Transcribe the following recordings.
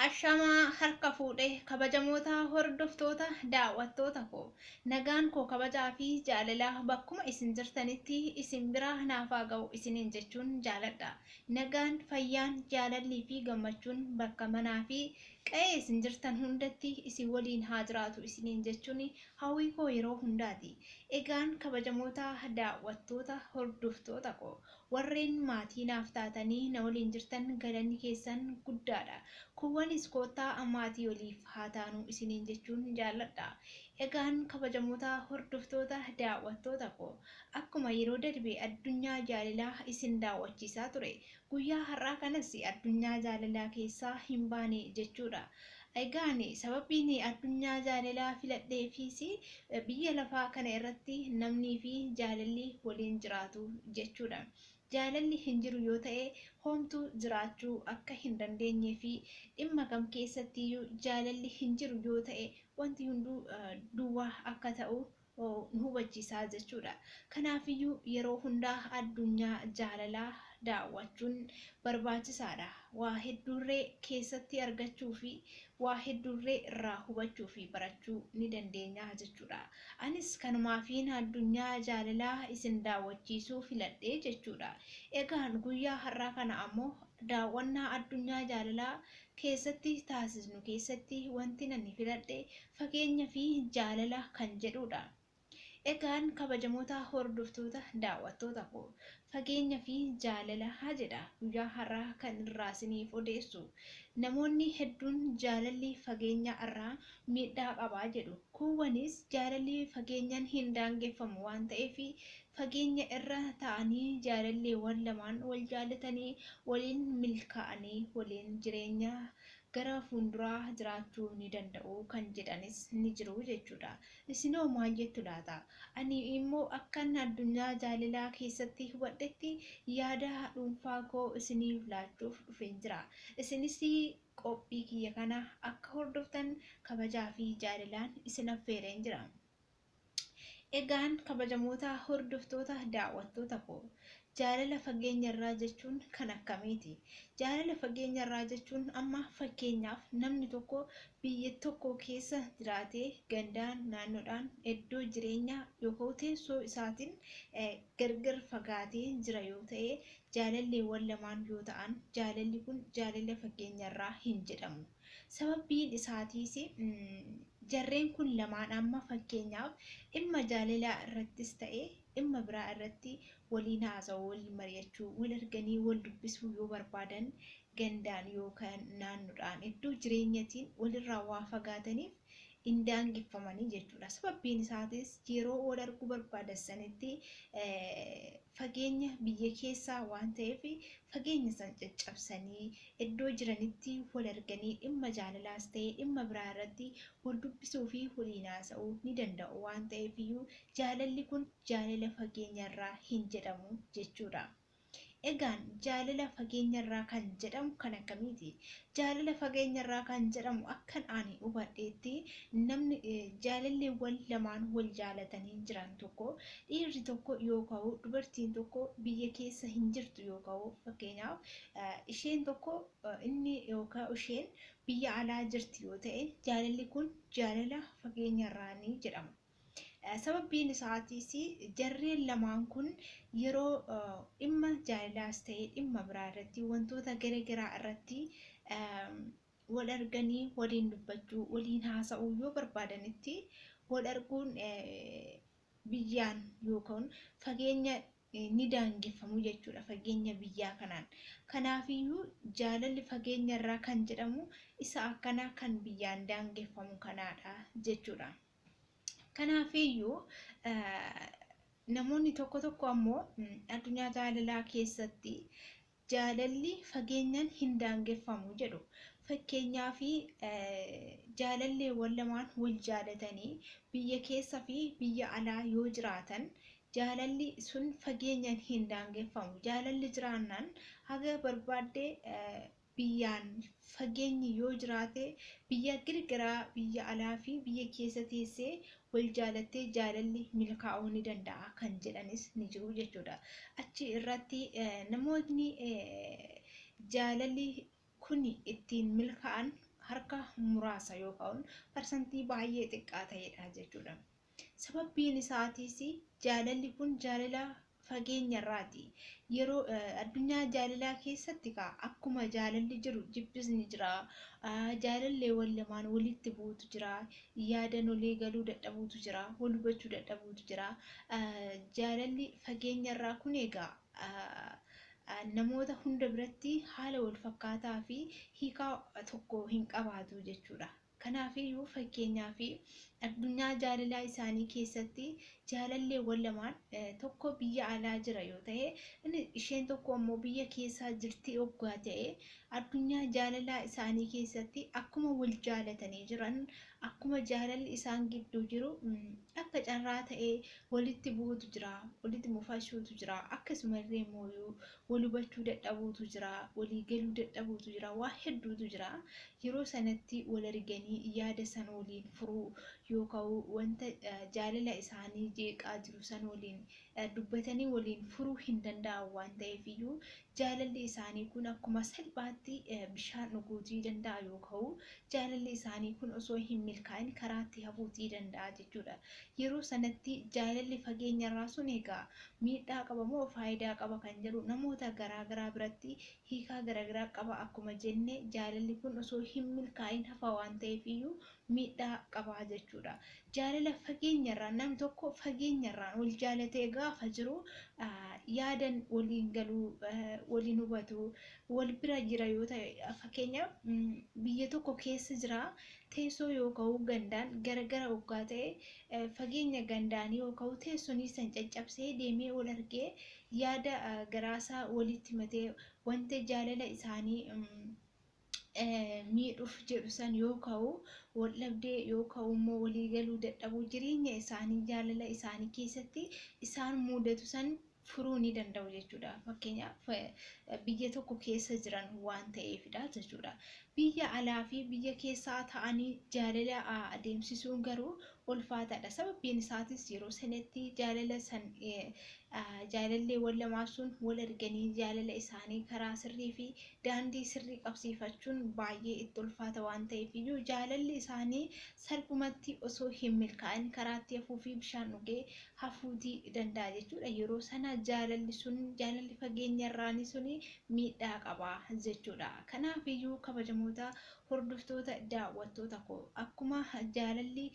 Ashamaa harka fuudhe kabajamoota hordoftoota daawwattoota koo nagaan koo kabajaa fi jaalalaa bakkuma isin jirtanitti isin bira naafaa ga'u isiniin jechuun jaaladha nagaan fayyaan jaalallii fi gammachuun bakka manaa fi qa'ee isin jirtan hundatti isin waliin haa jiraatu isiniin jechuun hawwii koo yeroo hundaati egaan kabajamoota daawwattoota hordoftoota koo Warreen maatii naaf taatanii na waliin jirtan galanni keessan guddaadha. Kuuwwanis koottaa maatii waliif haa taanu isiniin jechuun jaalladha. Egaan kabajamoota hordoftoota daawwattoota koo akkuma yeroo darbe addunyaa jaalalaa isin daawwachiisaa ture guyyaa har'aa kanas addunyaa jaalalaa keessaa hin baane jechuudha. Egaa ani sababiin addunyaa jaalalaa filadheefiis biyya lafaa kana irratti namnii fi jaalalli waliin jiraatu jechuu dha. Jaalalli hin jiru yoo ta'e homtuu jiraachuu akka hin dandeenyee fi dhimma kam keessatti iyyuu jaalalli hin jiru yoo ta'e wanti hunduu duwwaa akka ta'u nu hubachiisa jechuudha. Kanaafiyyuu yeroo hundaa addunyaa jaalalaa daawwachuun barbaachisaadha. Waa hedduurree keessatti argachuufi waa hedduurree irraa hubachuufi barachuu ni dandeenya jechuudha. Anis kanumaafiin addunyaa jaalalaa isin daawwachiisuu filadhe jechuudha. Egaan guyyaa har'aa kana ammoo daawwannaa addunyaa jaalalaa keessatti taasisnu keessatti wantin ani filadhe fageenya fi jaalala kan jedhuudha. Egaan kabajamoota hordoftoota daawwattoota koo fageenya fi jaalala jedha guyyaa har'aa kan irraa isiniif odeessu. Namoonni hedduun jaalalli fageenya irraa miidhaa qaba jedhu. Kuuwwanis jaalalli fageenyan hin daangeffamu waan ta'eef fageenya irra ta'anii jaalalleewwan lamaan wal jaallatanii waliin milkaa'anii waliin jireenya gara fuunduraa jiraachuu ni danda'u kan jedhanis ni jiru jechuudha. Isinoo maal jettu laata? Ani immoo akkan addunyaa jaalalaa keessatti hubadhetti yaada dhuunfaa koo isiniif laachuuf dhufeen jira. Isinis qophii kiyya kana akka hordoftan kabajaa fi jaalalaan isin affeereen jira. Egaan kabajamoota hordoftoota daawwattoota koo jaalala fageenya irraa jechuun kan akkamiiti? Jaalala fageenya irraa jechuun amma fakkeenyaaf namni tokko biyya tokko keessa jiraatee gandaan, naannoodhaan, iddoo jireenyaa yookaan teessoo isaatiin gargar fagaatee jira yoo ta'e jaalalleewwan lamaan yoo ta'an jaalalli kun jaalala fageenya irraa hin jedhamu. Sababbiin isaatiis jarreen kun lamaan amma fakkeenyaaf dhimma jaalalaa irrattis ta'e dhimma biraa irratti waliin haasa'uu, waliin mari'achuu, wal arganii wal dubbisuu yoo barbaadan gandaan yookaan naannoodhaan iddoo jireenyatiin walirraa waa fagaataniif hin daangeffamanii jechuudha. Sababbiin isaatis yeroo wal arguu barbaadan sanitti fageenya biyya keessaa waan ta'eef fageenya san caccabsanii iddoo jiranitti wal arganii dhimma jaalalaas ta'e dhimma biraa irratti wal dubbisuu fi waliin haasa'uu ni danda'u waan ta'eef iyyuu jaalalli kun jaalala fageenya irraa hin jedhamu jechuudha. Egaan jaalala fageenyarraa kan jedhamu kan akkamiiti? Jaalala fageenyarraa kan jedhamu akkan ani hubadheetti namni jaalalleewwan lamaan wal jaalatanii jiran tokko dhiirri tokko yoo ka'u dubartiin tokko biyya keessa hin jirtu yoo ka'u fakkeenyaaf isheen tokko inni yookaan isheen biyya alaa jirti yoo ta'e jaalalli kun jaalala fageenyarraanii jedhama. Sababbiin isaatiis jarreen lamaan kun yeroo dhimma jaalilaas ta'ee dhimma biraa irratti wantoota gara garaa irratti wal arganii waliin dubbachuu waliin haasa'uu yoo barbaadanitti wal arguun biyyaan yookaan fageenya ni daangeffamu jechuudha fageenya biyyaa kanaan. Kanaafiyyuu jaalalli fageenya irraa kan jedhamu isa akkanaa kan biyyaan daangeffamu kanaadha jechuudha. Kanaafiyyuu namoonni tokko tokko ammoo addunyaa jaalalaa keessatti jaalalli fageenyaan hin daangeffamu jedhu. Fakkeenyaaf jaalalleewwan lamaan wal jaalatanii biyya keessa fi biyya alaa yoo jiraatan jaalalli sun fageenyaan hin daangeffamu. Jaalalli jiraannaan haga barbaadde biyyaan fageenyi yoo jiraate biyya grgaraa biyya alaa fi biyya keessa teessee wal jaalattee jaalalli milkaa'uu ni danda'a kan jedhanis ni jiru jechuudha. Achi irratti namootni jaalalli kun ittiin milkaa'an harka muraasa yookaan parsantii baay'ee xiqqaa ta'edha jechuudha. Sababbiin isaatiis jaalalli kun jaalala fageenyarraati. Yeroo addunyaa jaalalaa keessatti kaa akkuma jaalalli jiru jibbis ni jira. Jaalalleewwan lamaan walitti bu'utu jira. Yaadan walii galuu dadhabuutu jira. Wal hubachuu dadhabuutu jira. Jaalalli fageenyarraa kun egaa namoota hunda biratti haala wal fakkaataa fi hiikaa tokko hin qabaatu jechuudha. Kanaafiyyuu fakkeenyaaf addunyaa jaalalaa isaanii keessatti jaalalleewwan lamaan tokko biyya alaa jira yoo ta'e inni isheen tokko ammoo biyya keessaa jirti oggaa ta'e addunyaa jaalalaa isaanii keessatti akkuma wal jaalatanii jiran akkuma jaalalli isaan gidduu jiru akka carraa ta'ee walitti bu'uutu jira walitti mufashuutu jira akkasumallee mooyuu wal hubachuu dadhabuutu jira, walii galuu dadhabuutu jira, waa hedduutu jira. Yeroo sanatti wal arganii yaada san waliin furuu yooka'u wanta jaalala isaanii jeeqaa jiru san waliin dubbatanii waliin furuu hin danda'an waan ta'eefiyyuu jaalalli isaanii kun akkuma salphaatti bishaan dhuguutii danda'a yooka'u Jaalalli isaanii kun osoo hin milkaa'in karaatti hafuus ni danda'a jechuudha. Yeroo sanatti jaalalli fageenyarraa sun egaa miidhaa qaba moo faayidaa qaba kan jedhu namoota garaa garaa biratti hiikaa garagaraa qaba. Akkuma jenne jaalalli kun osoo hin milkaa'in hafa waan ta'eef iyyuu miidhaa qaba jechuudha. Jaalala fageenyarraan namni tokko fageenyarraan wal jaalatee gaafa jiru yaadan waliin galu, waliin hubatu, wal bira jira yoo ta'e fakkeenyaaf biyya tokko keessa jira teessoo yoo ka'u gandaan gara gara oggaa ta'e fageenya gandaanii yoo ka'u teessonii san caccabsee deemee wal argee yaada garaasaa walitti matee wanta jaalala isaanii miidhuuf jedhu san yoo ka'u wal dhabdee yoo ka'u immoo walii galuu dadhabuu jireenya isaanii jaalala isaanii keessatti isaan muudatu san furuu ni danda'u jechuudha. Fakkeenyaaf biyya tokko keessa jiran waan ta'eefidha jechuudha. Biyya alaa fi biyya keessaa ta'anii jaalala adeemsisuun garuu ulfaataadha. Sababiin isaatis yeroo sanatti jaalala san jaalalleewwan lamaan sun wal arganii jaalala isaanii karaa sirrii fi daandii sirrii qabsiifachuun baay'ee itti ulfaata waan ta'eef iyyuu jaalalli isaanii salphumatti osoo hin milkaa'in karaatti hafuu fi bishaan dhugee hafuuti danda'a jechuudha. Yeroo sana jaalalli sun jaalalli fageenya irraanii sun miidhaa qaba jechuudha. Kanaaf iyyuu kabajamoota hordoftoota daawwattoota koo akkuma jaalalli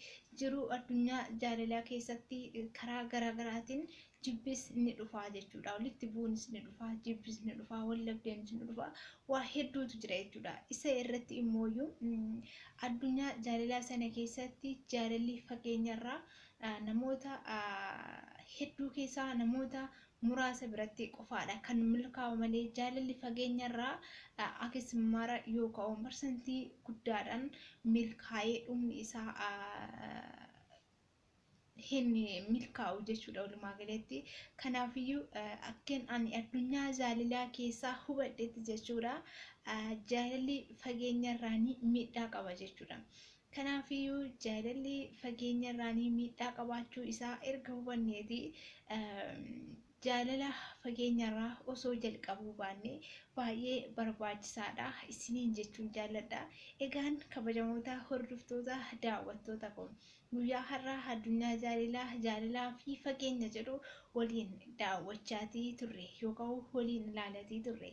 jiruu addunyaa jaalalaa keessatti karaa garaa garaatiin jibbis ni dhufaa jechuudha. Walitti bu'uunis ni dhufaa, jibbis ni dhufaa, wal dhabdeenis ni dhufaa, waa hedduutu jira jechuudha. Isa irratti immoo iyyuu addunyaa jaalalaa sana keessatti jaalalli fageenya irraa Namoota hedduu keessaa namoota muraasa biratti qofaadha kan milkaa'u malee jaalalli fageenyarraa akis mara yoo ka'u parsantii guddaadhaan milkaa'ee dhumni isaa hin milkaa'u jechuudha walumaa galatti. Kanaafiyyuu akkeen ani addunyaa jaalalaa keessaa hubadhetti jechuudha jaalalli fageenyarraa ni miidhaa qaba jechuudha. Kanaafiyyuu jaalalli fageenyarraan miidhaa qabaachuu isaa erga hubanneeti jaalala fageenyarraa osoo jalqabuu baanne baay'ee barbaachisaadha isiniin jechuun jaalladha. Egaan kabajamoota hordoftoota daawwattoota koo guyyaa har'aa addunyaa jaalilaa jaalalaa fi fageenya jedhu waliin daawwachaatii turre yookaan waliin ilaalatii turre.